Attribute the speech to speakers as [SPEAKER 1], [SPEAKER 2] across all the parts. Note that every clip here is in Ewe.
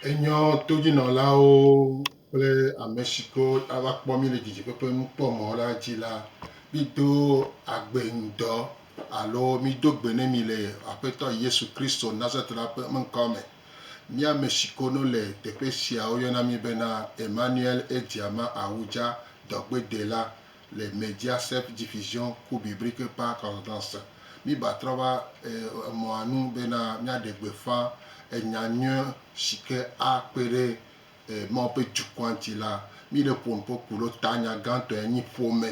[SPEAKER 1] Enyɔ todzinɔlawo kple ame si ke ava kpɔ mí le didiƒe ƒe nukpɔmɔ la dzi la, mído agbe ŋdɔ alo mído gbe ne mi le Aƒetɔ Yesu Kristo Nazaretla ƒe ŋkɔ me. Mía ame si ke no le teƒe sia woyɔna mí bena Emmanuel Ediama Awudza, Dɔgbedela. le Mediaset Diffusion ku Biblique par Concordance. Míba trɔ va emɔa nu bena míaɖe gbeƒã enya nyui si ke akpe ɖe Mawu ƒe dukɔa ŋuti la. Míɖe ƒo nu ƒe ku ɖo ta nya gãtɔe nyi ƒome.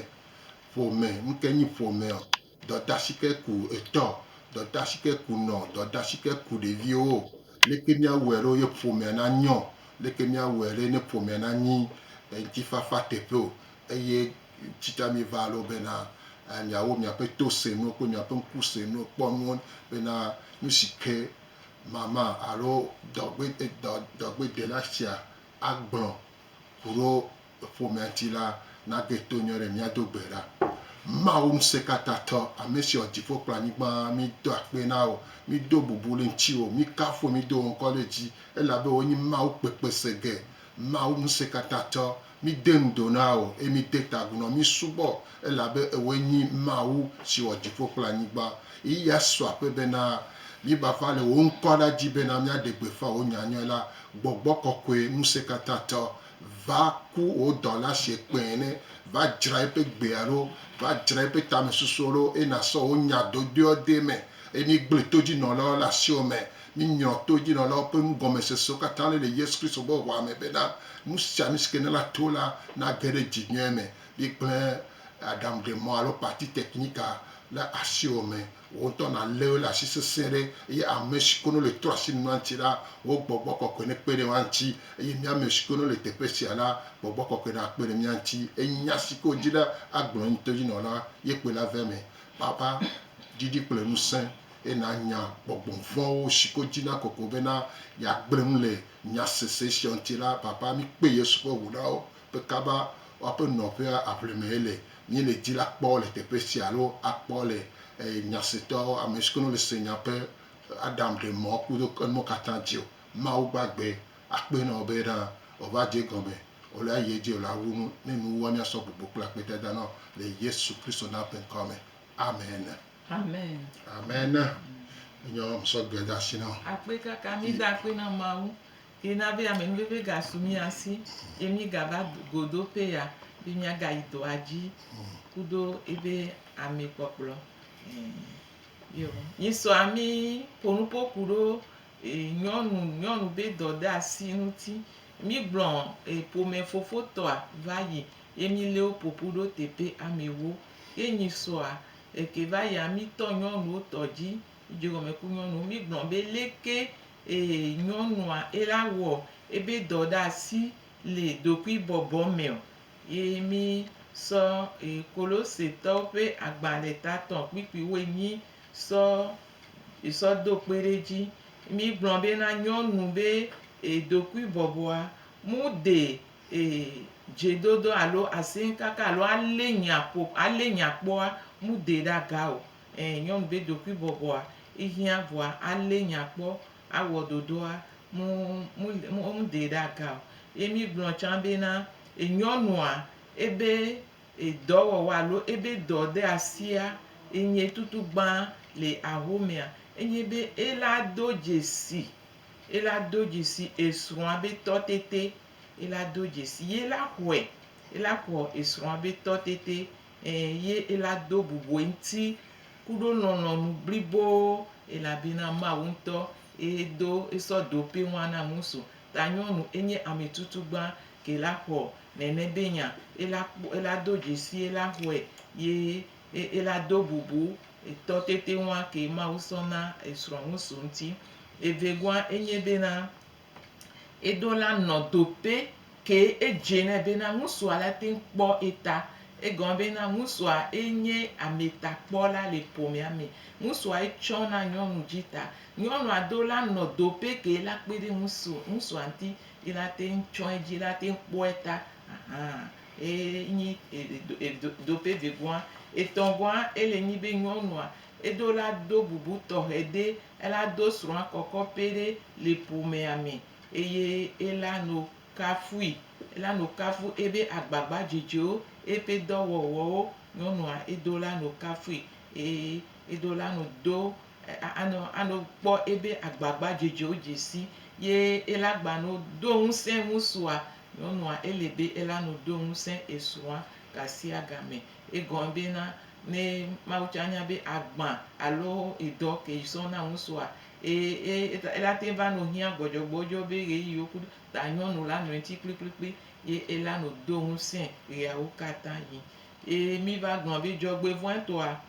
[SPEAKER 1] Ƒome, nu kae nye ƒomea? Dɔdashikɛku etɔ, dɔdashikɛ ku nɔ, dɔdashikɛ ku ɖeviwo. Leke míawɔɛ ɖo ye ƒomea na nyɔ? Leke míawɔɛ ɖe ne ƒomea na nyi ŋtifafa teƒe o? Eye tsita míva ɖo bena miawo miaƒe to se nuwo kple miaƒe ŋku se nuwo, kpɔ nuwo bena nusike mama alo dɔgbedela sia agblɔ ku ɖo. ƒomea ŋuti la, na gbe to nyɔ ɖe mía do gbe ɖa. Mawu ŋusẽkatãtɔ, ame si wɔ dziƒo kple anyigba, mí do akpe na wò, mí do bubu ɖe ŋutiwò, mí kafu wò, mí do wò ŋkɔ ɖe dzi, elabe wò nye Mawu kpekpesege, Mawu ŋusẽkatãtɔ. Mí de nu do na wò, eye mí de ta agu na wò, mí subɔ wò, elabe ewòe nyi Mawu si wɔ dziƒo kple anyigba. Ɣeyiɣia su akpe bena mí va va le wò ŋkɔ ɖa dzi bena mía ɖe gbe ƒã wò nya nyɔe la, gbɔgbɔ kɔkɔe ŋusẽkatãtɔ, va ku wò dɔla sie kpɛɛ ne, va dzra eƒe gbea ɖo, va dzra eƒe tamesusuwo ɖo, eye nàsɔ wò nya dodoea de eme, eye mígblẽ todzinɔlawo le asiwò me, míŋlɔ todzinɔlawo ƒe nugɔmesesewo katã ɖi le Yesu Kristo ƒe ʋɔa me bena, nu sia nu si ke nèlã to la nage ɖe dzi nyuie me. Mígblẽ aɖaŋuɖemɔ alo party technique-a le asiwò me. Wò ŋutɔ nàlé wo ɖe asi sesĩe ɖe, eye ame si kono le trɔ asi nua ŋuti la, wò gbɔgbɔ kɔkɔe nekpe ɖe woa ŋuti, eye mía ame si kono le teƒe sia la, gbɔgbɔ kɔkɔe nakpe ɖe mía ŋuti. Eye nya si ke wòdi la agblɔ ŋuti to dzi nɔ la, ye kpoe la vea eme. Baba, ɖiɖi kple ŋusẽ, eye nànya gbɔgbɔ vɔ̃wo si ke wodi na kɔkɔe bena yeagblẽ nu le nya sesẽ sia ŋuti la. Baba, míkpe Yesu ƒe ŋu na wo, be kaba woaƒe nɔƒea aʋlime yele, míele di la kpɔ le teƒe sia alo akpɔ le nyasetɔ ame siwo ne le se nya ƒe Adam ɖe mɔ kudo enumɔ katã dzi o. Mawu gbagbe akpe nɔ be ɖa o va dze egɔme o la yi edzi o la wu nu ne nu wua mia sɔ gbogbo kple akpe dada nɔ le Yesu Kristo na ƒe ŋkɔ me. Amen. Amen. Amen. Enyɔ me sɔ gbe da si nɔ. Akpe kaka mi da
[SPEAKER 2] akpe na Mawu. Yi na be ame nuvevi ga su mía si, ye mí ga va go do ƒe ya, be mía ga yi dɔa dzi kudo ebe ame kpɔkplɔ. Yo, yi sɔ ami ƒo nu ƒo kuɖo nyɔnu, nyɔnu be dɔ de asi ŋuti. Mí gblɔ ƒome fofo tɔa va yi, ye mí lé wo ƒoƒu ɖo teƒe ame wo. Ye nyi sɔa eke va yi ami tɔ nyɔnuwo tɔ dzi. Edzegɔme ku nyɔnu. Mígblɔ be leke ee nyɔnua ela wɔ ebe dɔ ɖe asi le ɖokuibɔbɔ meɔ? Ye mí sɔ Kolosetɔwo ƒe agbalẽ tatɔ kpikpi woenyi sɔ sɔ do kpe ɖe edzi. Mí gblɔ be na nyɔnu be ɖokuibɔbɔa mu de dzedodo alo asɛnkaka alo ale nya ƒo ale nya kpɔa mu de ɖe aga o. Ẽ, nyɔnu be ɖokuibɔbɔa ihiã vɔa alé nya kpɔ awɔ ɖoɖoa, mu, mu, mu, mu ɖee ɖe aga o. Ye mi gblɔ tsã be na enyɔnua ebe e dɔwɔwɔ alo ebe dɔ ɖe asia enye tutu gbã le ahomea, enye be ela do dzesi, ela do dzesi esrɔ̃a be tɔtete, ela do dzesi, ye la xɔɛ, ela xɔ esrɔ̃a be tɔtete Ẽ, ye ela do bubu eŋti kuɖo lɔlɔ̃nu blibo, elabena Mawu ŋtɔ eye do esɔ do ƒe ŋua na ŋusu, ta nyɔnu enye ametutugba ke la xɔ nɛnɛ be nya, ela kpɔ, ela do djesi ela xɔɛ, ye e, ela do bubu etɔ tete ŋua ke Mawu sɔ na esrɔ̃ ŋusu ŋti. Evegɔa enye bena. Eɖo la nɔ do pɛ ke edze nɛ bena ŋusua la te ŋu kpɔ eta. Egɔme bena ŋusua ye nye ametakpɔla le ƒomea me. Ŋusua ye tsɔ na nyɔnu dzi ta. Nyɔnua ɖo la nɔ do pɛ ke la kpe ɖe ŋusu ŋusua ŋuti ye la te ŋu tsɔ edzi la te ŋu kpɔe ta ahan. Eye nyi edo edo do pɛ vegɔa. Etɔ̃gɔa ele nyi be nyɔnua. Eɖo la do bubu tɔxɛ ɖe ela do srɔ̃a kɔkɔ pɛ ɖe le ƒomea me eye ela no kafui. Ela no kafu ebe agbagba dzedzewo, eƒe dɔ wɔwɔwo. Nyɔnua eɖo la no kafui eye eɖo la no do anɔ anɔ kpɔ ebe agbagba dzedzewo dze si ye ela gba no do ŋusẽ ŋusua. Nyɔnua ele be ela no do ŋusẽ esrɔ̃a gasiagame. Egɔme be na ne Mawu tsã nya be agbã alo edɔ ke yi sɔ na ŋusua. Eye, eye eta ela te va nɔ hiã gbɔdzɔgbɔdzɔ be ɣeyiɣiwo kudo ta nyɔnu la nɔe ŋti kplikplikpli ye ela nɔ do ŋusẽ ɣeawo katã ɣi. Ye mi va gblɔ be dzɔgbevɔ̃e tɔa,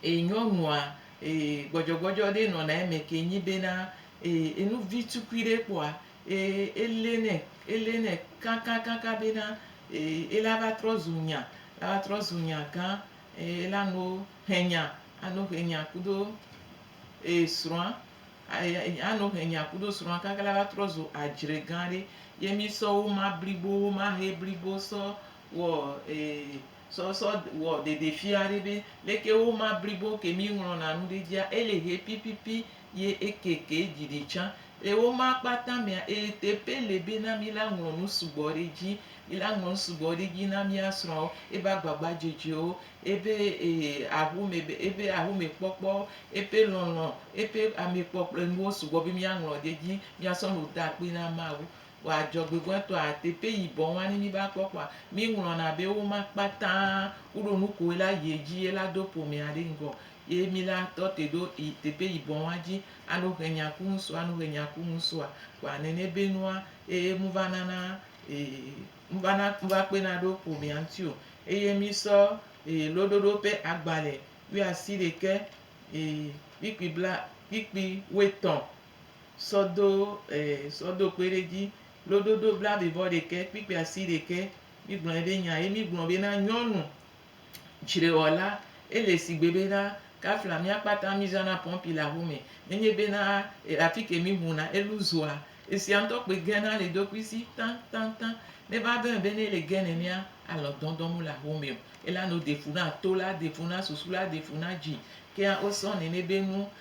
[SPEAKER 2] e nyɔnua e gbɔdzɔgbɔdzɔ ɖe nɔna eme ke nyi be na e enuvi tukui ɖe kpɔa Eye elé nɛ, elé nɛ kãkãkãkã bena, ee, ela va trɔ zu nya, ela va trɔ zu nya gã, eye ela no hẽ nya, ano hẽ nya kudo, ee, srɔ̃a, eye ano hẽ nya kudo srɔ̃a kaka ela va trɔ zu adzre gã ɖe. Ye mí sɔ woma blibowo, woma hẽ blibo sɔ wɔ, ee. sɔ sɔ wɔ ɖeɖefia ɖe be leke wo ma blibo ke mi ŋlɔna nu ɖe dzia ele he pipipi ye eke ke dzi ɖi tsã le wo ma kpata mea eye teƒe le be na mi la ŋlɔ nu sugbɔ ɖe dzi mi la ŋlɔ nu sugbɔ ɖe dzi na mia srɔwo ebe agbagba dzedzewo ebe ee aƒo me be ebe aƒo me kpɔkpɔ ebe lɔlɔ ebe ame kpɔ kple nuwo sugbɔ be mia ŋlɔ ɖe dzi mia sɔ nu da akpe na mawu Vɔ adzɔgbegbetɔa, teƒe yi bɔn wani mi va kpɔ kpɔa, mi ŋlɔna be wo ma kpata wo ɖo nuko ye la yie dzi ye la do ƒomea ɖe ŋgɔ. Ye mi la tɔ te ɖo yi teƒe yi bɔn wa dzi ano he nya ku ŋsu ano he nya ku ŋsua. Kpɔa nɛnɛ be nua eye mu va nana e mu va na mu va kpena ɖo ƒomea ŋti o. Eye mi sɔ e loɖoɖo ƒe agbalɛ wuiasiɖekɛ e kpikpi bla kpikpi wuietɔn. sɔ do e sɔ do kpe ɖe dzi lododo blaevɔ ɖekɛ kpikpi asi ɖekɛ mi gblɔ eɖe nya ye mi gblɔ be na nyɔnu tsre wɔ la ele sigbe be na kafla mia kpata mi zana pɔpi le aƒe me nenye be na e afike mi ŋu na elu zua esia ŋtɔ kpe ge na le dokui si taŋtaŋtaŋ ne va ve be ne le ge nenea alɔ dɔdɔ mu le aƒe me o ela no de fu na to la de fu na susu la de fu na dzi kea osɔ nene be nu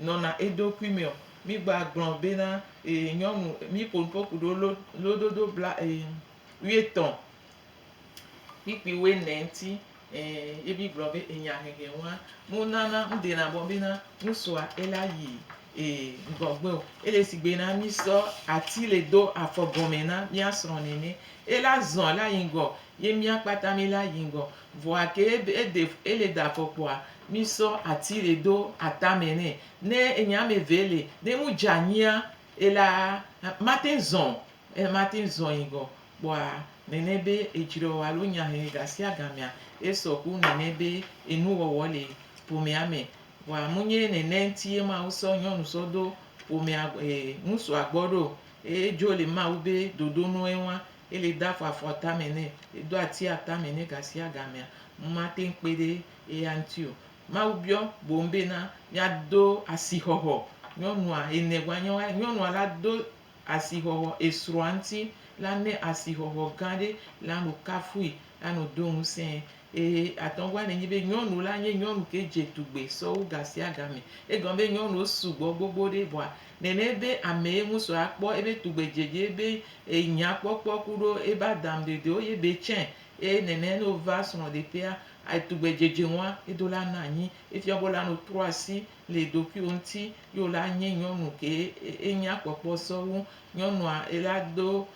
[SPEAKER 2] nɔna eɖokui mɛ ɔ, mi gba glɔn bena e nyɔnu mi ƒonu ƒo kuɖo lo lododo bla e wuietɔn kpikpi wuinɛ ŋti e ye mi gblɔ be enya hehe ŋua mu nana ŋ dena bɔ bena nu sua e la yi e ŋgɔgbe o. Ele sigbe na mi sɔ ati le do afɔ gɔnmɛ na mia srɔ nɛnɛ. E la zɔn la yi ŋgɔ ye mia kpata mi la yi ŋgɔ. Vɔ gake eɖe ele ɖe afɔkpoa, mi sɔ ati ɖe do atame nɛ. Ne enye ame eve le, ne nu dze anyia, ela mate ŋu zɔ̃ o. Ele mate ŋu zɔ̃ yi gɔ kpɔa nene be edzrɔe o alo nya he gasiagamea esɔ ku nene be enuwɔwɔ le ƒomea me. Vɔa munye nene ŋutie Mawu sɔ nyɔnu sɔ ɖo ƒomea e ŋutsua gbɔ ɖo o. Edzo le Mawu be ɖoɖo nue wa. Eli de afɔ afɔ tame nɛ, edo ati atame nɛ gasiagamea, ŋu mate ŋu kpe ɖe eya ŋuti o. Mawu biɔ boŋ bena, Míado asixɔxɔ nyɔnua? Ene gɔ̃a nye woae. Nyɔnua la do asixɔxɔ esrɔ̃a ŋuti. Lanɛ asixɔxɔ gã aɖe la nɔ kafui, lanɔ do ŋusẽe. Ee, atɔ̃gɔa nɛ nyi be nyɔnu la nye nyɔnu ke dze tugbe sɔwu gasiagame. Egɔme be nyɔnuwo sugbɔ gbogbo ɖe vɔa, nɛnɛ be amee ŋu sɔ akpɔ ebe tugbedzedze be enya kpɔkpɔ kuɖo ebe adamdedewo ye be tsɛ. Eye nɛnɛ ne wova srɔ̃ɖeƒea, tugbedzedze ŋua edo la na anyi. Efia be wole no trɔ asi le ɖokuiwo ŋuti ye wole anye nyɔnu ke enya kpɔkpɔ sɔwu nyɔnua ela do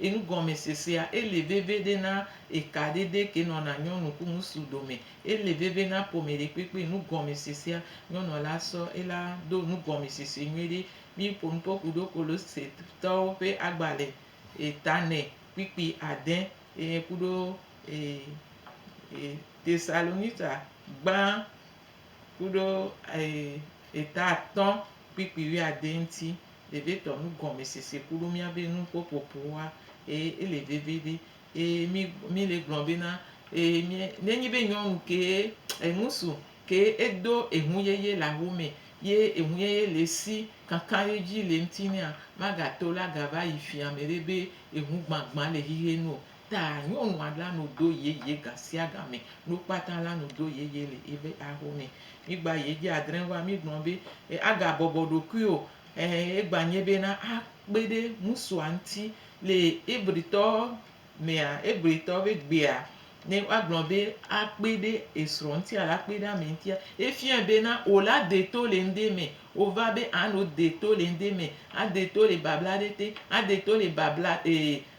[SPEAKER 2] Enugɔmesesea, Ele veve ɖe na eka ɖe ɖe ke nɔna nyɔnu ku ŋusu dome. Ele veve na ƒome ɖekpekpe. Nugɔmesesea, Nyɔnua la sɔ ela do nugɔmesese nyuiɖe. Mi ƒo nuƒo ku ɖo Kolosetɔwo ƒe agbalẽ ta nɛ kpikpi ade eye ku ɖo Tesalonica gbã ku ɖo eta atɔ̃ kpikpi wuiade ŋuti. Vevitɔ nugɔmesese ku ɖo míabe nuƒoƒoƒoa ee ele vevivi ee mi mi le gblɔ be na ee mi ne nyi be nyɔnu kee eŋusu ke edo eŋu yeye le awu me ye eŋu yeye le esi kankan ɖe dzi le ŋuti nɛa magato la gava yi fia me ɖe be eŋu gbagbã le xexe nu o Ta nyɔnua la nu do yeye gasiagame, nukpata la nu do yeye le ebe axome. Migba ye dzi adrɛ va migblɔ be, e aga bɔbɔ ɖokui o, e egba nye be na a kpe ɖe ŋusua ŋti. Le Ebritɔ mea, Ebritɔ be gbea, ne wa gblɔ be a kpe ɖe esrɔ ŋti alo a kpe ɖe ame ŋtia, efiɔɛ be na o la de to le ŋde me. O va be a no de to le ŋde me, a de to le babla ɖe te, a de to le babla e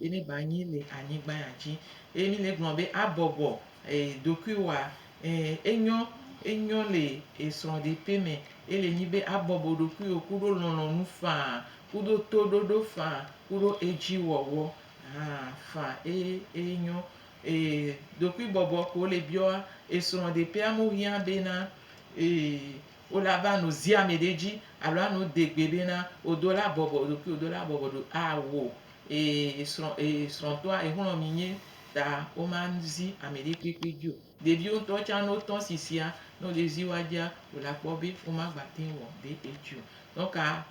[SPEAKER 2] Eye ne ba nyi le anyigba ya dzi, eye mi le gblɔ be a bɔbɔ e ɖokui wa, e enyɔ, enyɔ le e srɔɖeƒe me, ele nyi be a bɔbɔ ɖokui wo kuɖo lɔlɔnu faa, kuɖo to ɖoɖo faa, kuɖo edzi wɔwɔ hã faa. Eye eye nyɔ. E ɖokui bɔbɔ ko le biɔ a e srɔɖeƒea mo hiã be na e. Wo la va nu zia me ɖe dzi alo anu de gbe be na wo do la bɔbɔ ɖokui wo do la bɔbɔ ɖo a wo e srɔ̃ e srɔ̃tɔa e xlɔ̃ mi nye ta wo ma zi ame ɖe kpekpe dzi o. Ɖeviwo ŋutɔ tsa no tɔ si sia ne wo le zi wa dzia wo la kpɔ be wo ma gba te wɔ ɖe edzi o. Nɔ ka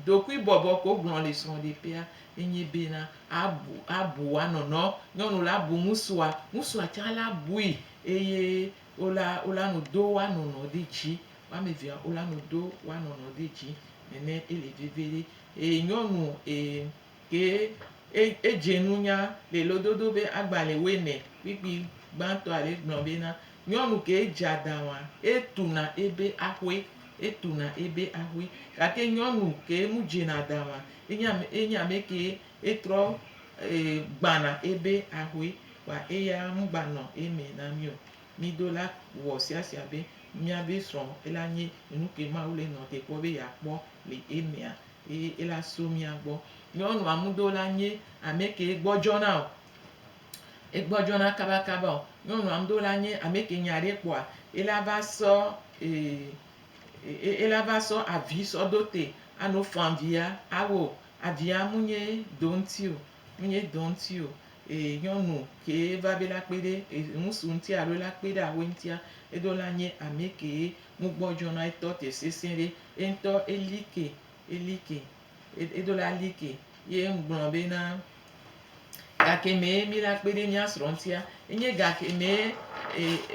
[SPEAKER 2] ɖokui bɔbɔ ko gblɔ le srɔ̃ ɖe ƒea enye be na a bu a bu wa nɔnɔ nyɔnu la bu ŋusua ŋusua tsa la bui eye Wola, wola nu do woa nɔnɔ ɖe dzi. Woame evea wola nu do woa nɔnɔ ɖe dzi. Nene ele veviɖe. Eye nyɔnu e, ke e, edze nunya le lododo be agbalẽ woame kpikpi gbãtɔa ɖe gblɔ bena, nyɔnu ke edze adaŋua, etuna ebe axoe, etuna ebe axoe. Gake nyɔnu ke nu dzena adaŋua, enye ame, enye ame ke etrɔ e, gbãna ebe axoe. Kpa eya ŋgba nɔ emɛ na mí o. Mí do la wɔ siasia be mía be srɔ̃ ela nyi enuke Mawu le nɔ te kpɔ be ya kpɔ le emɛa, eye ela so mía gbɔ. Nyɔnua ŋu do la nyi amɛke egbɔ dzɔna o. Egbɔ dzɔna kaba kaba o. Nyɔnua ŋu do la nyi amɛke nya ɖe kpɔa, ela va sɔ e, ela va sɔ avi sɔ do te ano fã via awo. Avia mu nyi do ŋuti o. Menye dɔ ŋuti o, ee, nyɔnu kee va be la kpe ɖe ŋutsu ŋuti alo la kpe ɖe awoe ŋutia, eɖo la nye ame kee nu gbɔ dzɔ na etɔ te sesẽ ɖe. Eŋutɔ eli ke, eli ke, eɖo la li ke. Ye ŋugblɔ be na gake mee mi la kpe ɖe mía srɔ̃ ŋutia, enye gake mee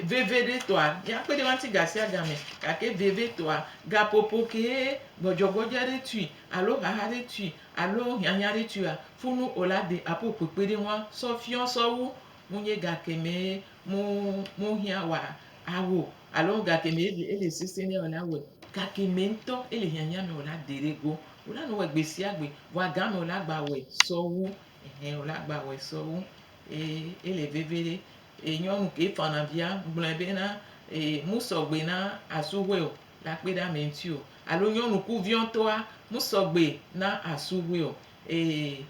[SPEAKER 2] veve ɖe tɔa mía kpe ɖe woa ŋuti gasiagame, gake veve tɔa gaƒoƒo kee gbɔdzɔgbɔdzɔ aɖe tui alo xaxa aɖe tui alo hiahiãɖitsuya funu o la de apo kpekpeɖeŋua sɔ fiɔ sɔwu munye gake me mu mu hiã wa awo alo gake me ele ele sese ne wòla wɛ gake me ŋutɔ ele hiahiã me o la de ɖe go o la nu wɛ gbesiagbe vɔ agã me o la gba wɛ sɔwu ehɛ o la gba wɛ sɔwu ee ele veviɖe ee nyɔnu ke fana via gblɔɛ be na ee mu sɔgbe na asuwɛ o la kpe ɖe ame ŋuti o. Alo nyɔnu ku viɔtɔa mu sɔgbe na asu ŋue o ee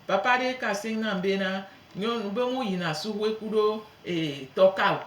[SPEAKER 2] papa ɖe ka aseŋ nam be na nyɔnu be mu yina asu ŋue kuɖo ee tɔ ka o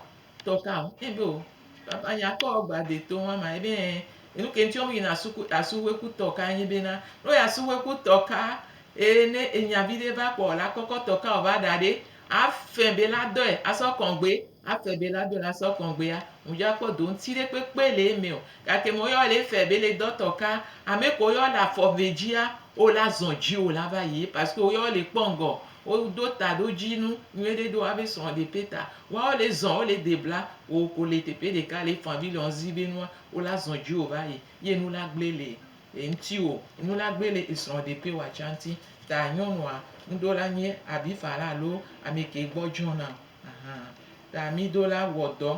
[SPEAKER 2] tɔ ka o ee be o papa nya kɔ gba de to ŋua ma ebe ee enuke ŋti mu yina asu ku asu ŋue ku tɔ ka nye be na no ya asu ŋue ku tɔ ka ee ne enya viɖe va kpɔ la kɔkɔ tɔ ka o va ɖa ɖe afɛ be la dɔe asɔ kɔgbe. Ate be la dona sɔ kɔngbea ŋudja kpɔ do ŋti ɖe kpekpe le eme o. Gake me woyɔ le efɛ be le dɔtɔ ka ame ke woyɔ le afɔ ve djia wo la zɔn dji wo la va yi parce que wo yɔ le kpɔ ŋgɔ. Wo do ta ɖo dji nu nyuiɖe do wabe srɔ de peta wa wo le zɔn wo le de bla wo ko le teƒe ɖeka le efanvi le ɔzi be nua wo la zɔn dji wo va yi ye nu la gble le eŋti wo nu la gble le esrɔ de pe wa tsa ŋti ta nyɔnua ŋɖo la nye abifa la alo ame ke gbɔ djɔna Ahan, ta mido la wɔ dɔ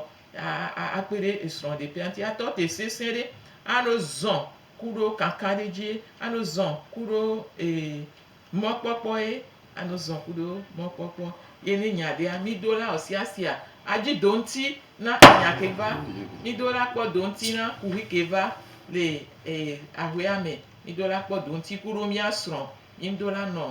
[SPEAKER 2] akpe ɖe esrɔ̃ ɖeƒea ŋuti atɔ te sesẽ ɖe alo zɔ̃ ku ɖo kakaɖedzi alo zɔ̃ ku ɖo mɔkpɔkpɔ ye alo zɔ̃ ku ɖo mɔkpɔkpɔ ye ne nya ɖea mido la ɔsiasia adzi do ŋuti na nya ke va mido la kpɔ do ŋuti na kuxi ke va le aƒea me mido la kpɔ do ŋuti ku ɖo mía srɔ̃ ye ŋudo la nɔ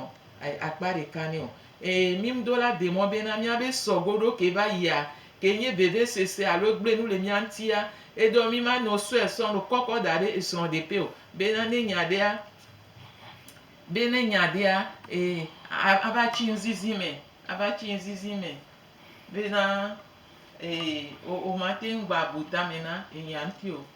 [SPEAKER 2] akpa ɖeka nɛ o. E mím do la de mɔ bena míabe sɔ goɖo ke va yia ke nye vevesese alo egblẽ nu le mía ŋutia. Edɔ mím ano sɔe sɔ nu kɔkɔ da ɖe esrɔ̃ ɖekpe o bena ne nya ɖea, be ne nya ɖea, e a ava tsi ŋzizi me, ava tsi ŋzizi me bena e o o mate ŋu gba bu tame na enya ŋuti o.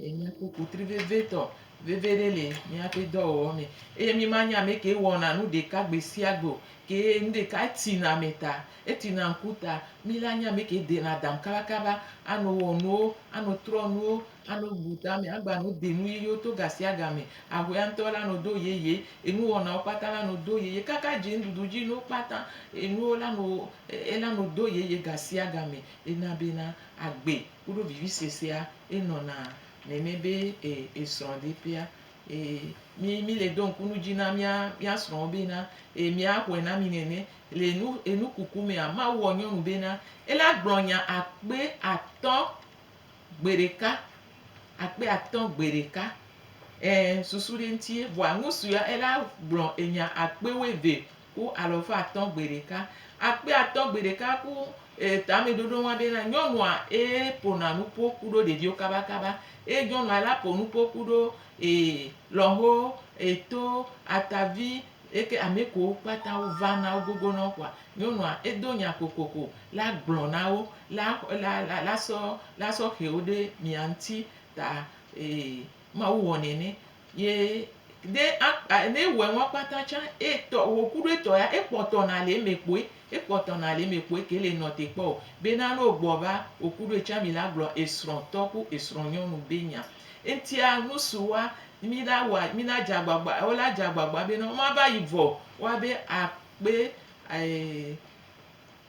[SPEAKER 2] Ye míakpɔ kotri vevitɔ veve ɖe le míaƒe dɔwɔwɔ me eye mímanye ame ke wɔna nu ɖeka gbe sia gbe o. Ke nu ɖeka, etina ame ta, etina ŋku ta. Mí la nye ame ke dena adam kabakaba, ano wɔ nuwo, ano trɔ nuwo, ano bu tame, agba no de nu yeyewo to ga sia ga me. Ahuea ŋutɔ la no do yeye, enuwɔnawo kpata la no do yeye, kaka dzinuɖuɖu dzi nuwo kpata, enuwo la no, ela no do yeye ga sia ga me. Ena bena agbe. Kuɖo vivisue sia e nɔna nɛnɛ be e e srɔ̃ de ƒea. E mi mi le do ŋku nu dzi na mía mía srɔ̃wo be na e mía xɔe na mi nɛnɛ. Le enu enu kuku mea, Mawu wɔ nyɔnu be na e la gblɔ nya akpe atɔ̃ gbe ɖeka. Akpe atɔ̃ gbe ɖeka. E susu ɖe ŋuti ye vɔa nusuea e la gblɔ enya akpe wuieve. ku alɔfa atɔ̃ gbe ɖeka. Akpe atɔ̃ gbe ɖeka ku tameɖoɖo ŋwa be na nyɔnua ye ƒona nu ƒo kuɖo ɖeviwo kabakaba. Ye nyɔnua la ƒo nu ƒo kuɖo lɔho, eto, atavi eke ame kewo kpata wova na wogogo na wo kpoa nyɔnua edo nya kokoko la gblɔ na wo la la la lasɔ lasɔ xe wo ɖe mia ŋuti ta Mawu wɔ nɛ nɛ. Ye ne akpa ne ewɔe ŋua kpata tsã etɔ wò kuɖo etɔ ya ekpɔtɔ nale eme kpoe ekpɔtɔ nale eme kpoe ke le nɔ te kpɔ o. Be na ne ogbɔ va wò kuɖo etsã mi la gblɔ esrɔ̃ tɔ ku esrɔ̃ nyɔnu be nya. Eŋtia nu si woa mi la wɔa mi na dze agbagba wo la dze agbagba be na wo ma va yi vɔ woa be akpe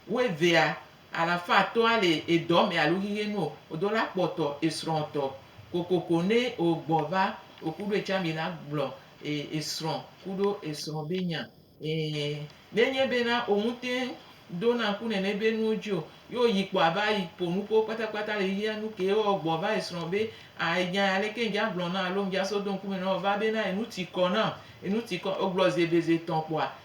[SPEAKER 2] Woevea, alafa atɔ ale edɔme alo xixe nu o, odo la kpɔ tɔ esrɔ tɔ kokoko ne ogbɔ va okuɖo etsa mi la gblɔ e esrɔ kuɖo esrɔ be nya e ne nye be na oŋute do na ŋku nene be nuwo dzi o ye oyi kpɔ ava yi ƒo nukuwo kpata kpata le xixea nu ke o gbɔ va esrɔ be a enya ya leke ŋdza gblɔ na alo ŋdza so do ŋkume na o va be na enu ti kɔ nam enu ti kɔ ogblɔ zi eve zi etɔ kpɔa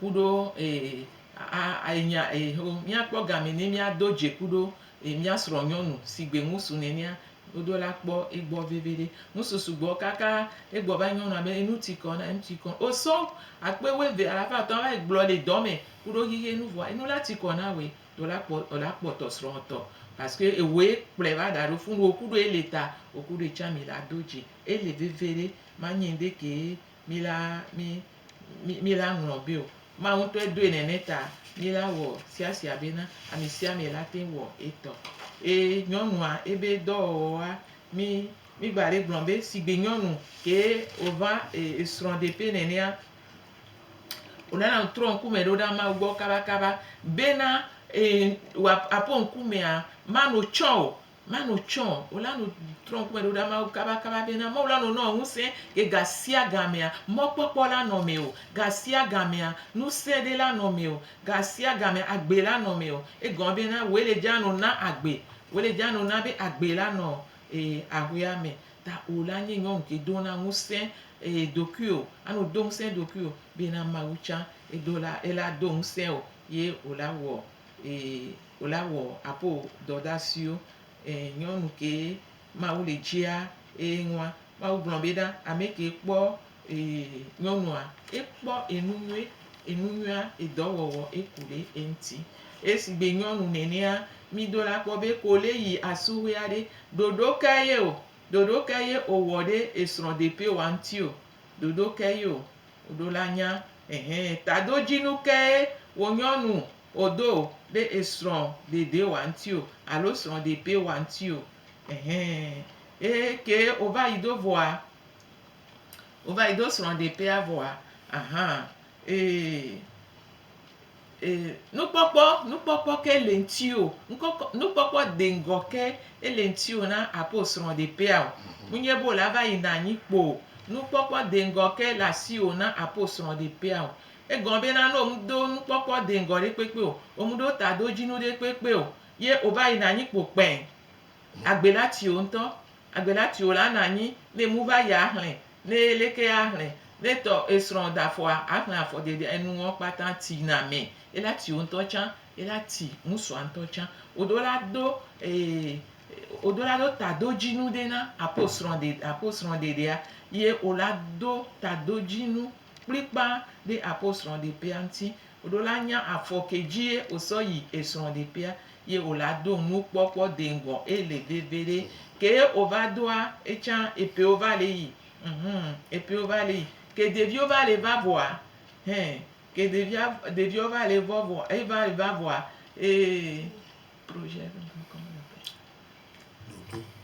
[SPEAKER 2] ku ɖo eye aa enya eye ho míakpɔ gamɛ ni míado dze ku ɖo eye mía srɔ̃ nyɔnu si gbe ŋu su nɛnɛa ɖoɖo la kpɔ egbɔ veviɖe. Ŋusu sugbɔ kaka egbɔ va nyɔnua be enu ti kɔ na enu ti kɔ o sɔ akpe wuieve alafa atɔ̃ va yi gblɔ le dɔ me ku ɖo xixi enu vɔa enu la ti kɔ na woe ɖo la kpɔ o la kpɔ tɔ srɔ̃ tɔ paske ewoe kplɔe va da ɖo funu o ku ɖo ele ta o ku ɖo etsã mi la do dze ele veviɖe manyi ŋɖe kee. mí la, mí, mí, mí la ŋlɔ be o. Mawu ŋutɔe doe nene ta mí la wɔ siasia bena ame sia ame la te wɔ etɔ. Ye nyɔnua ebe dɔwɔwɔa, mí, mí gba le gblɔ be sigbe nyɔnu ke wòva e, esrɔ̃ ɖeƒe nenea, wònana trɔ ŋkume ɖo ɖa Mawu gbɔ kabakaba bena e, wòaƒo ŋkumea, mano tsã o. Mano tsɔ o la no trɔ ŋkume ɖo ɖa Mawu kabakaba bena Mawu la no nɔ ŋusẽ ke gasiagamea mɔkpɔkpɔ la nɔ mɛ o, gasiagamea nusẽɖe la nɔ mɛ o, gasiagamea agbe la nɔ mɛ o. Egɔme bena wòe le dja no na agbe, wòe le dja no na be agbe la nɔ e ahwea mɛ. Ta o la nye nyɔnu ke do na ŋusẽ e ɖokuio, ano do ŋusẽ eɖokuio bena Mawu tsã edo la ela do ŋusẽ o ye o la wɔ Ee, wòle awɔ apo dɔdasiwo. Ee, nyɔnu kee Mawu le dzia eye ŋua. Mawu gblɔ be ɖa ame kee kpɔ ee nyɔnua, ekpɔ enu nyuie, enu nyuia, edɔ wɔwɔ eku ɖe eŋuti. Esigbe nyɔnu nenea, mi do la kpɔ be ko le yi asuhue aɖe, ɖoɖo kae ye o, ɖoɖo kae ye owɔ ɖe esrɔ̃ ɖepewoa ŋuti o, ɖoɖo kae ye o. Oɖo la nya, ɛhɛ, tadojinu kee wo nyɔnu o do ɖe esrɔ̃ dede wa ŋti o alo srɔ̃ depe wa ŋti o. Ɛhɛ, ye kee o va yi do vɔa, o va yi do srɔ̃ depea vɔa, ahan, ee. E, nukpɔkpɔ, nukpɔkpɔ ke le ŋti o, ŋkɔkɔ, nukpɔkpɔ deŋgɔ ke ele ŋti o na apo srɔ̃ ɖe ƒea o. Ŋunye be wòla va yi na anyi kpo o. Nukpɔkpɔ deŋgɔ ke le asi o na apo srɔ̃ ɖe ƒea o. Egɔme be na ne womu do nukpɔkpɔ deŋgɔ ɖe kpekpe o, womu ɖo ta do dzi nu ɖe kpekpe o, ye wova yi na anyi kpo kpɛɛ, agbe la tsi wo ŋutɔ. Agbe la tsi wo la na anyi ne emu va yi ahlẽ Ne leke a hlɛ ne tɔ esrɔ da fɔa a hlɛ afɔ dede enu ɔ kpata ti na mɛ e la ti wo ŋtɔ can e la ti ŋsua ŋtɔ can wo ɖo la ɖo wo ɖo la ɖo taɖodjinu ɖe na apo srɔ ɖe apo srɔ ɖeɖea ye wo la ɖo taɖodjinu kplikpa ɖe apo srɔ ɖe ƒea ŋti Ɖo la nya afɔke dzie wosɔ yi esrɔɖeƒea ye wo la do nu kpɔ kpɔ deŋgɔ ele veviɖe ke ye wo va doa etsa epewo va le yi humm epewo va le yi ke ɖeviwo va le va vɔa hɛ ke ɖevia ɖeviawo va le vɔ vɔ e va le va vɔa ee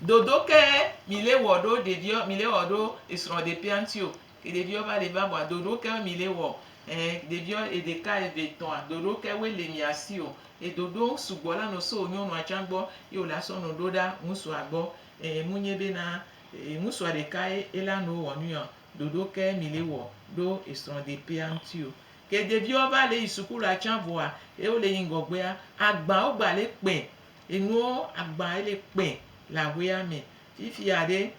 [SPEAKER 2] dodo ke mi le wɔ ɖo ɖeviwo mi le wɔ ɖo esrɔɖeƒea ŋti o Ke ɖeviɔ va le va bua doɖo ke mi le wɔ ɛɛ ɖeviɔ eɖeka eve etɔa doɖo ke wo le mia si o edoɖo sugbɔ la nɔ so nyɔnua can gbɔ ye wo la sɔ nɔ ɖo ɖa ŋusua gbɔ ɛɛ mu nye be na ŋusua ɖeka ye ela nuwo wɔ nui ɔ doɖo ke mi le wɔ ɖo esrɔ de pea ŋti o. Ke ɖeviɔ va le yi suku la can vɔa ye wo le yi ŋgɔ gbea agba wo gba le kpɛ enuwo agba ele kpɛ le ahuea mɛ fifia ɖe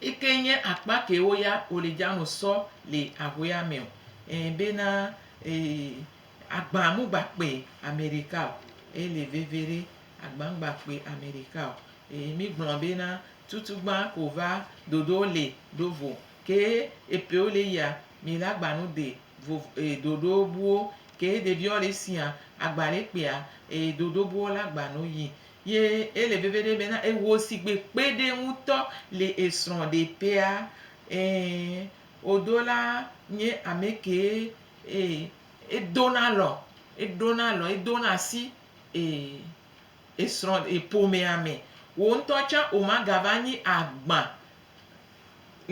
[SPEAKER 2] Eke nye akpa kewo ya wole dzano sɔ le ahuea me o. Ẽ bena agba mogba kpe Amerika o. Ele veve ɖe, agba ŋgba kpe Amerika o. Eye mi gblɔ bena tutugbã ko va dodo le ɖo vo. Ke epewo le yia, mi la gba nu de vov dodo buwo. Ke ɖeviɔ le sia, agba le kpea, dodo buwo la gba nu yi. Ye ele veveɖe be na ewò sigbe kpeɖe ŋutɔ le esrɔ̃ ɖe tea. Ɛɛ, wodo la nye ame kee ee edo na alɔ, eɖo na alɔ, edo na asi ee esrɔ̃ eƒomea me. Wò ŋutɔ tsã womagava nyi agbã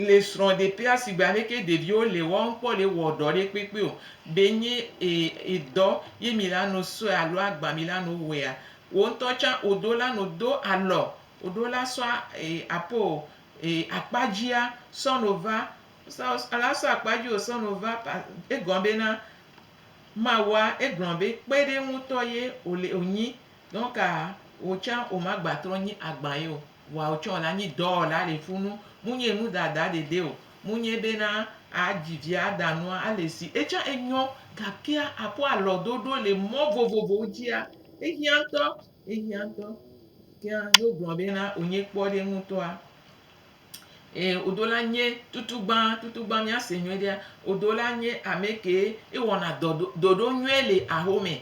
[SPEAKER 2] Le srɔ̃ɖeƒea sigbe aleke ɖeviwo le wɔm kpɔ le wɔ ɖɔ ɖe kpekpe o, ɖe nye edɔ ye mi la no sɔe alo agba mi la no wɔea? Wo ŋutɔ tsã wo ɖo la no do alɔ, wo ɖo la sɔ apo akpa dzia sɔ no va, la sɔ akpa dzi wo sɔ no va, egɔme be na Mawua egblɔ be kpe ɖe ŋutɔ ye wo le wo nyi, donc wo tsã wo ma gba trɔ nyi agba ye o. Woawo tsɔ la nyi dɔwɔla le funu, munye nu dada ɖeɖe o, munye be na a dzi vi a da nua a le si. Etsã enyɔ, gakea a kpɔ alɔ ɖoɖo le mɔ vovovowo dzia? Ehiã ŋutɔ, ehiã ŋutɔ. Kea no gblɔ be na o nye kpɔ ɖe ŋutɔa, e o do la nye tutugba, tutugba mía se nyuiɖea, o do la nye amɛ ke e wɔna dɔ ɖo, ɖoɖo nyuie le ahome.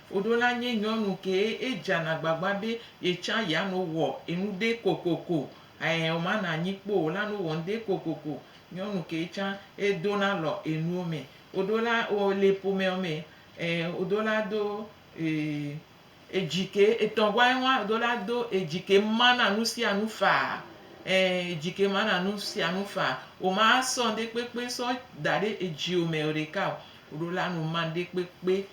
[SPEAKER 2] Koɖo la nye nyɔnu kee edzana gbagba be yetsã yeano wɔ enuɖe kokoko ɛɛ o mana anyi kpo o lano wɔ ŋɖe kokoko. Nyɔnu kee tsã edona lɔ enuwo me. Koɖo la o le ƒomɛɔ me ɛɛ koɖo la do ee edzi ke etɔ gua eŋua koɖo la do edzi ke mana nusianu faa ɛɛ edzi ke mana nusianu faa. O ma sɔ ŋɖe kpekpe sɔ daɖe edziwo me oɖeka o. Koɖo la no ma ŋɖe kpekpe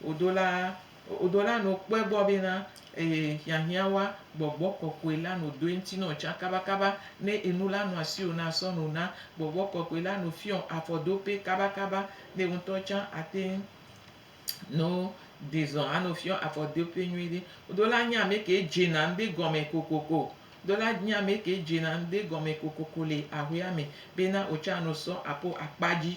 [SPEAKER 2] Wodo la, wodo la no kpɔɛ gbɔ be na eye hiahiã wa gbɔgbɔ kɔkɔe la no doe ŋuti nɔ tsã kabakaba ne enu la nɔ asiwò na sɔ no na gbɔgbɔ kɔkɔe la no fiɔ afɔdope kabakaba ne wo ŋutɔ tsã ateŋ no dezɔ ano fiɔ afɔdope nyuie ɖe. Wodo la nye ame ke dzena ŋde gɔme kokoko. Wodo la nye ame ke dzena ŋde gɔme kokoko le ahuea me be na wo tsã ano sɔ apo akpa dzi.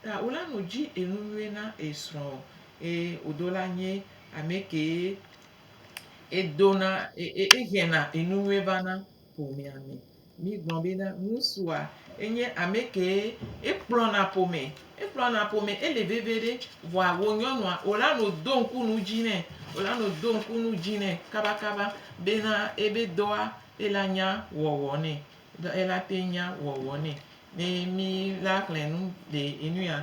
[SPEAKER 2] Ta wola nu dji enunyuie na esrɔ eye wodo la nyie amɛkee edona ehiɛna enunyuie va na ƒomea me. Mi gblɔ be na ŋusua enye amɛkee ekplɔna ƒome, ekplɔna ƒome ele vevie ɖe vɔa wo nyɔnua wola nu do ŋku nu dji nɛ, wola nu do ŋku nu dji nɛ kaba kaba be na ebe dɔa ela nya wɔwɔ nɛ. Ɖe ela te nya wɔwɔ nɛ. Ne mi la xlẽ nu le enu ya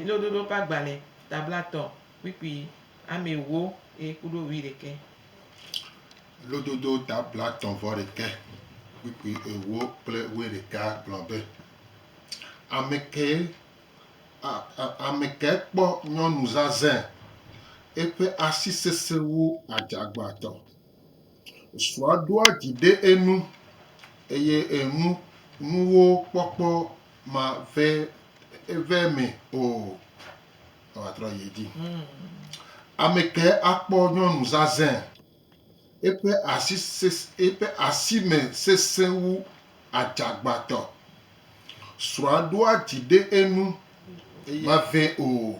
[SPEAKER 2] lo ɖoɖo ƒa gba le tabla tɔ kpikpi ame ewo e kuɖo wi ɖekɛ. Lo ɖoɖo
[SPEAKER 1] tabla tɔ vɔ ɖekɛ kpikpi ewo kple wi ɖeka gblɔ be, Amekɛ a, a, amekɛ kpɔ nyɔnu zazɛ, eƒe asi sesẽwo adzagbãtɔ. Srɔ̃a ɖoa dzi ɖe enu eye enu nuwo kpɔkpɔ ma ve eve me o. Ewa trɔ yi dzi. Ame ke akpɔ nyɔnu zazɛ. Eƒe asi ses eƒe asi me sesẽ wu adzagbatɔ. Srɔ̃a ɖoa dzi ɖe enu ma ve o.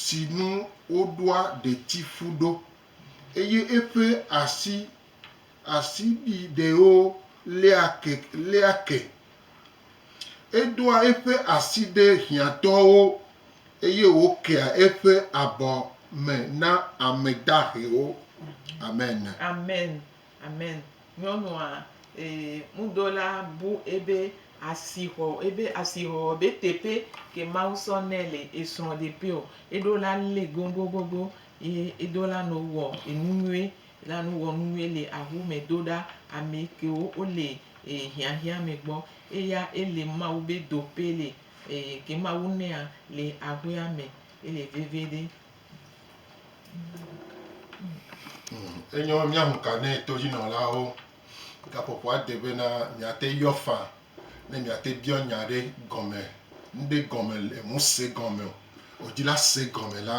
[SPEAKER 1] si nu woɖoa ɖetifu ɖo, eye eƒe asi asiɖiɖewo léa ke léa ke. Edoa eƒe asi ɖe hiãtɔwo, eye wòkea eƒe abɔ me na ame dahewo. Amen. Amen.
[SPEAKER 2] Amen nyɔnua e mudola bu ebe asixɔ ebe asixɔ be teƒe ke mawu sɔ nɛ le esrɔ de pe o eɖo la le gogogogo ye edo la no wɔ enu nyuie la no wɔ nu nyuie le awu me do ɖa ame kewo wo le e hiahia me gbɔ eya ele mawu be do pe le e ke mawu nɛa le aƒea me ele vevi ɖe
[SPEAKER 1] Enyo míahu ka ne todzinɔlawo gaƒoƒoa de be na miate yɔ fa ne miate biɔ nya ɖe gɔme ŋɖe gɔme le ŋuse gɔme o wòdzi la se gɔme la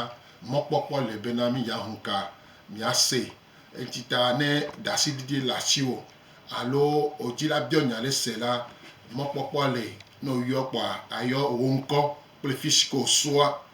[SPEAKER 1] mɔkpɔkpɔ le be na mi ya hu ka miase eŋti ta ne ɖasiɖiɖi le asiwò alo wòdzi la biɔ nya ɖe se la mɔkpɔkpɔ le ne woyɔ kpɔa ayɔ wò ŋkɔ kple fisi ke wosua.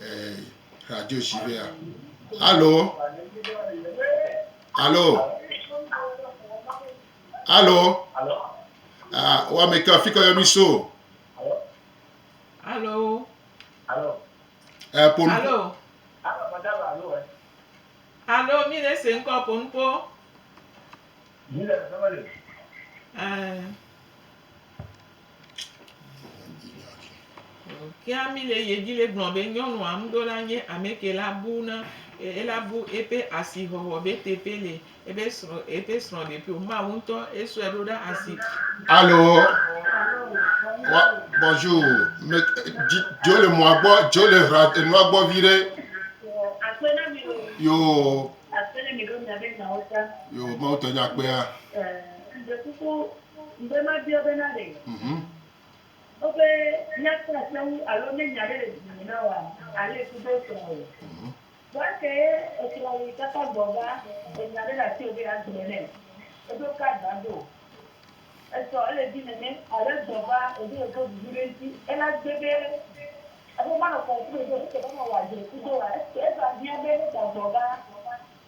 [SPEAKER 1] eh, radio dzi be ya alo alo alo ah, wame ke afi ke yɔ mi so Alo. eh, ponu
[SPEAKER 2] Alo. Alo, mi le se ŋkɔ ponupo. Eh, Kea mi le ye dzi le gblɔ be nyɔnua ŋdo la nye ameke la bu na ela bu eƒe asi hɔhɔ be teƒe le ebe srɔ eƒe srɔ ɖe ƒio mawu ŋtɔ esɔe ɖo ɖa asi. Alo
[SPEAKER 1] bɔnju jo le mɔa gbɔ jo le hra enua gbɔ vi ɖe. Yoo yoo mawu tɔ nya kpea. Ŋugbe mabia be na ɖe
[SPEAKER 3] wo be nya kpɔ aseŋu alo ne nya ɖe le dzi me na woa? Ale ku ɖe esrɔ̃ o. Vɔa eke ye esrɔ̃ yi kaka gbɔ va ɖe nya ɖe le asiwò be yeagblɔ nɛ. Eɖo card va do. Esɔ ele dzi nene alo egbɔ va wòdo yeƒe bubu ɖe ŋuti. Ele agbe be eƒe manɔkɔŋkume ɖo eke be ne wòadzre ku ɖoa? Eke eva hiã be ne da gbɔ va.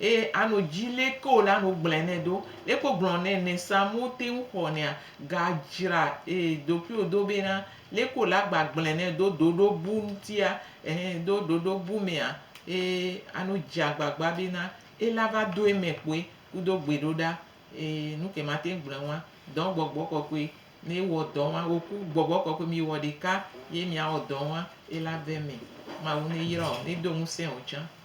[SPEAKER 2] eye ano dzi leke wòle ano gblɔe nɛ ɖo. Leke wogblɔ nɛ ne sam wote ŋu xɔnɛa? Gadzra ɖokuiwò do bena leke wòle agba gblɔe nɛ ɖo ɖoɖo bu ŋutia ɛhɛ ɖo ɖoɖo bu mea eye ano dze agbagba bena ele ava do eme kpoe kudo gbeɖoɖa eye nuke mate ŋu gblɔe ŋua dɔ gbɔgbɔ kɔkɔe ne ewɔ dɔ ŋua wò ku gbɔgbɔ kɔkɔe miwɔ ɖeka ye miawɔ dɔ ŋua ele ava eme. Mawu neyra wò nedo ŋusẽ wò tsã.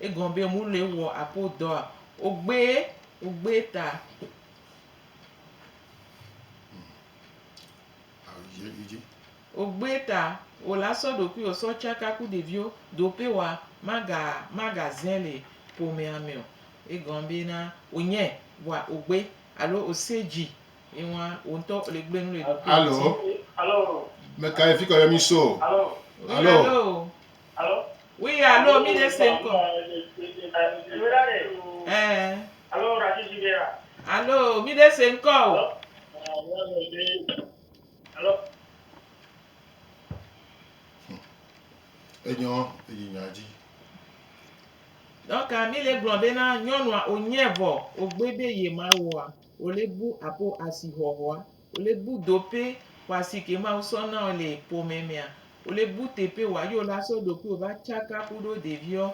[SPEAKER 2] Egɔme be mu le wɔ apo dɔa ogbe ogbe ta. Ogbe ta o la sɔ ɖokui o sɔ tsaka ku ɖeviwo do pe wa maga maga zɛ le ƒomea me o. Egɔme be na wonye wa ogbe alo o se dzi ye wa wo ŋutɔ le gble nu le ɖokui ŋuti. Alo. Alo.
[SPEAKER 1] Meka ye fi kɔ yɔ mi so. Alo. Alo.
[SPEAKER 2] Alo? Oui alo mi ɖe se ŋkɔ. Ɛɛ. Alo racisi ɖe ya. Alo mi ɖe se ŋkɔ o. Alo? Alo?
[SPEAKER 1] Enyɔ eyi nya dzi.
[SPEAKER 2] Dɔka mi le gblɔ bena nyɔnua o nyɛ vɔ o gbe be ye ma wɔa o le bu apo asihɔhɔa. Wòle bu dope wa sike Mawu sɔ na ɔ le pomɛ mɛa? Wòle bu tepe wa yi wola sɔ ɖokuiwo va tsaka kuɖo ɖeviɔ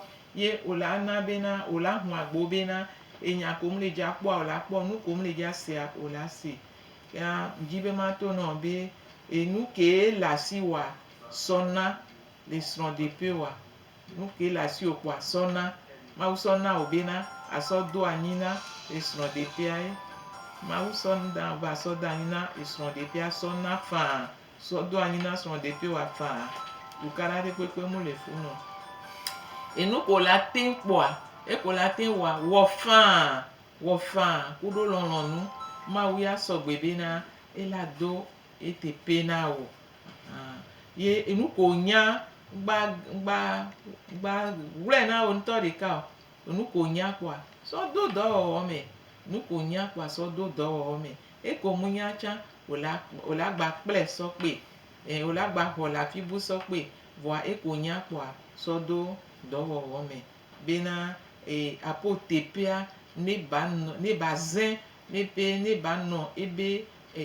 [SPEAKER 2] ye wola ana bena wola hun agbo bena enya ko ŋle dja kpɔa wola kpɔ, nu ko ŋle dja sea wola se. Ya ŋdji be ma to nɔ be enu ke ye le asi wa sɔ na le srɔ̃ ɖepe wa. Nu ke le asiwò ko àsɔ na. Mawu sɔ na wò bena àsɔ do anyi na esrɔ̃ ɖeƒea ye. Mawu sɔ na wò be àsɔ do anyi na esrɔ̃ ɖeƒea sɔ na faa. Sɔ do anyi na srɔ̃ ɖeƒewoa faa. Ɖuka ɖa ɖekpekpe mu le funu o. Enu ko wòle ateŋ kpɔa, eke wòle ateŋ wɔa, wɔ faa. Wɔ faa kuɖo lɔlɔ̃nu. Mawu ya sɔ gbe bena ela do eteƒe na wò. Ahan. Ye enu ko wònya gba gba gba gblɔɛ na wò ŋutɔ ɖeka o. Enu ko wònya kpoa sɔ do dɔwɔwɔ mɛ. Enu ko wònya kpoa sɔ do dɔwɔwɔ mɛ. Eke wò munya tsan wò la wò la gba kplɛ sɔ kpe. Ɛɛ wò la gba xɔ le afi bu sɔ kpe. Vɔa eke wò nya kpoa sɔ do dɔwɔwɔ mɛ. Be na e apo tepea ne ba nɔ ne ba zẽ ne be ne ba nɔ ebe e.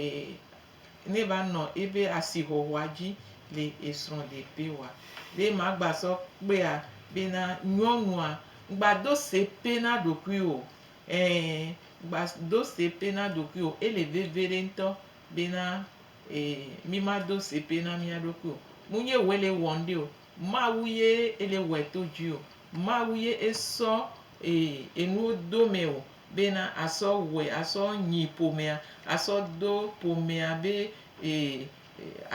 [SPEAKER 2] ne va nɔ ebe asihɔhɔa dzi le esrɔ̃ ɖeƒe wa. Be ma gba sɔ kpea be na nyɔnua ŋgba do se pɛ na ɖokui o ɛ ŋgba do se pɛ na ɖokui o. Ele veviɖe ŋtɔ be na e mi ma do se pɛ na mía ɖokui o. Mu nyi woe le wɔ ŋɖe o. Mawu ye ele wɔɛ to dzi o. Mawu ye esɔ e enuwo do mɛ o. bena asɔ wɔe asɔ nyi ƒomea, asɔ do ƒomea be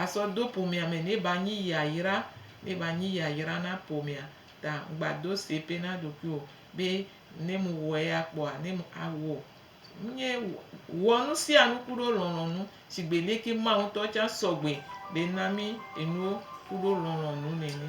[SPEAKER 2] asɔ do ƒomea me ne ba nyi yayra, ne ba nyi yayra na ƒomea ta ŋgba do sepe na ɖokui o be ne mu wɔ eya kpɔa ne mu awɔ. Ŋnye wɔ nusianu kuɖo lɔlɔnu shigbe leke Mawu ŋtɔ tsa sɔgbe be na mi enuwo kuɖo lɔlɔnu nene.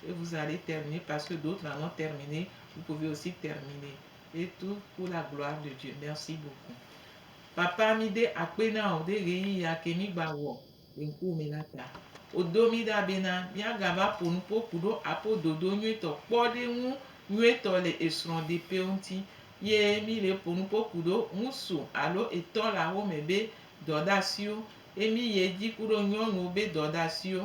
[SPEAKER 2] Et vous allez terminer parce que d'autres en ont termine, vous pouvez aussi terminer et tout pour la gloire de Dieu. Merci beaucoup papa mide akpe na o ɖe ɣeyiɣi ya ke mi gba wɔ le ŋkuwò me la ta. Wodo mi ɖa bena miagava ƒo nu kpo ku ɖo apo dodo nyuitɔ kpɔ ɖe ŋu nyuitɔ le esrɔ̃ ɖe ƒewo ŋuti ye mi le ƒo nu kpo ku ɖo ŋusu alo etɔ le axome be dɔ ɖe asiwo ye mi ye dzi ku ɖo nyɔnuwo be dɔ ɖe asiwo.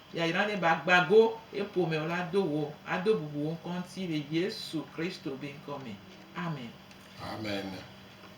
[SPEAKER 2] Yayra ne ba gba go ye ƒome o la do wò ado bubu wò ŋkɔ ŋuti le Yesu Kristo be ŋkɔ
[SPEAKER 1] me.
[SPEAKER 2] Amen. Amen.